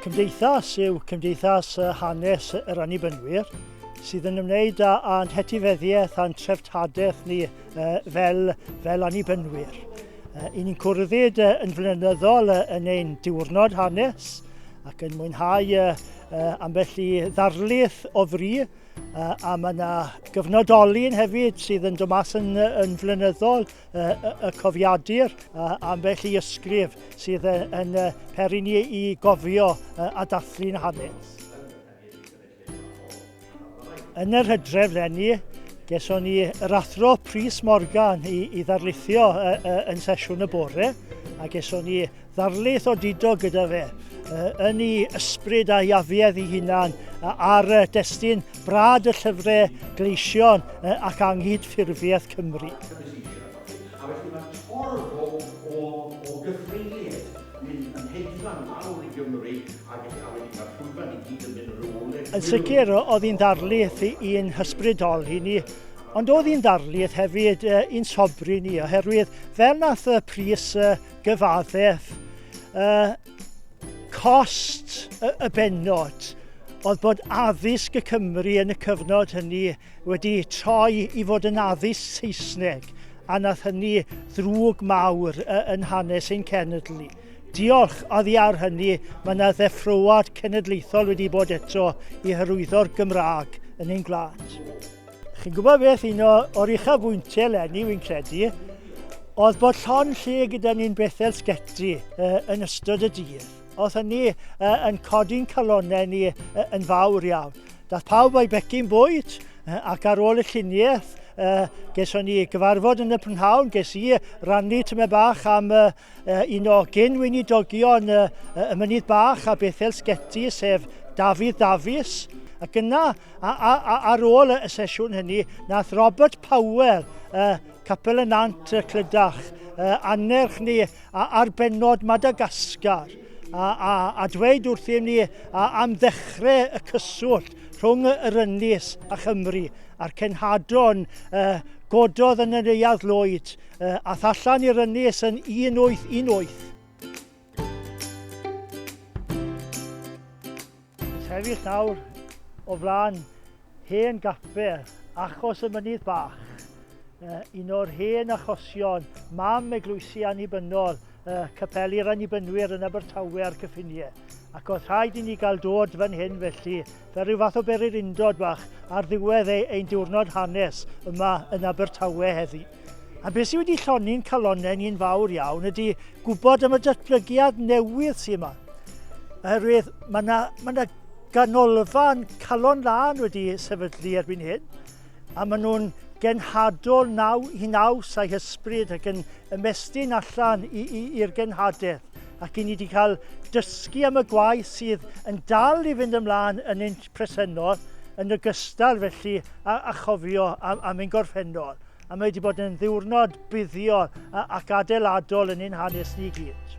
Cymdeithas yw Cymdeithas Hanes yr Annibynwyr sydd yn ymwneud â, â hetifeddiaeth a'n treftadaeth ni uh, fel, fel annibynwyr. Uh, I ni'n cwrddyd uh, yn flynyddol uh, yn ein diwrnod hanes ac yn mwynhau uh, uh, ambell i ddarlith o fri, uh, a mae yna gyfnodolyn hefyd sydd yn dod mas yn, yn flynyddol uh, y cofiadur, uh, ambell i ysgrif sydd yn, yn uh, peri ni i gofio uh, a dathlu'n hanes. Yn yr hydref lenni, geson ni yr athro Prys Morgan i, i ddarlithio uh, uh, yn sesiwn y bore, a geson ni ddarlith o dido gyda fe, uh, yn ei ysbryd a'i afiedd ei hunan, uh, ar uh, destyn brad y llyfrau gleision uh, ac anghyd ffurfiaeth Cymru. A felly mae torfol o, o gyfrinliaeth mynd yn hedfan lawr i Gymru ag eto a wedyn ma'r llwyfan i gyd yn mynd yn ôl i'r... Yn sicr o'dd hi'n ddarlith i'n hysbrydoli ni ond o'dd hi'n ddarlith hefyd i'n sobri ni oherwydd fel nath y pris gyfaddef y cost y bennod o'dd bod addysg y Cymry yn y cyfnod hynny wedi troi i fod yn addysg Saesneg A wnaeth hynny ddrwg mawr yn hanes ein cenedl ni. Diolch oddi ar hynny, mae yna ddeffroad cenedlaethol wedi bod eto i hyrwyddo'r Gymraeg yn ein gwlad. Chi'n gwybod beth, un o, o'r uchafbwyntiau eleni, wy'n credu, oedd bod llon lle gyda ni'n Bethel Sgeti yn ystod y dydd. Oedd hynny uh, yn codi'n calonau ni uh, yn fawr iawn. Dath pawb o'i becyn bwyd uh, ac ar ôl y lluniaeth uh, geson ni gyfarfod yn y prynhawn, ges i rannu tyma bach am uh, un o gyn weinidogion uh, y Mynydd Bach a Bethel Sgeti, sef Dafydd Dafis. Ac yna, a, a, a, ar ôl y sesiwn hynny, nath Robert Powell, uh, Capel y Nant y Clydach, uh, annerch ni a ar bennod Madagascar, a, a, a dweud wrthym ni a, am ddechrau y cyswllt rhwng yr Ynys a Chymru a'r cenhadon uh, gododd yn y Neuadd Lloyd uh, a thallan i'r Ynys yn 1818. Sefyll nawr o flaen hen gapel achos y mynydd bach, uh, un o'r hen achosion mam eglwysi annibynnol uh, capeli'r annibynwyr yn Abertawe a'r cyffiniau. Ac oedd rhaid i ni gael dod fan hyn felly, fel rhyw fath o berir undod bach ar ddiwedd ei, ein diwrnod hanes yma yn Abertawe heddi. A beth sydd wedi llonni'n calonnau ni'n fawr iawn ydy gwybod am y datblygiad newydd sydd yma. Oherwydd mae yna ma yna ganolfan calon lân wedi sefydlu erbyn hyn, a maen nhw'n genhadol naw, i naws a'i hysbryd ac yn ymestyn allan i'r genhadaeth. Ac i ni wedi cael dysgu am y gwaith sydd yn dal i fynd ymlaen yn ein presennol yn ogystal felly a, a chofio am, am ein gorffennol. A mae wedi bod yn ddiwrnod buddiol ac adeiladol yn ein hanes ni gyd.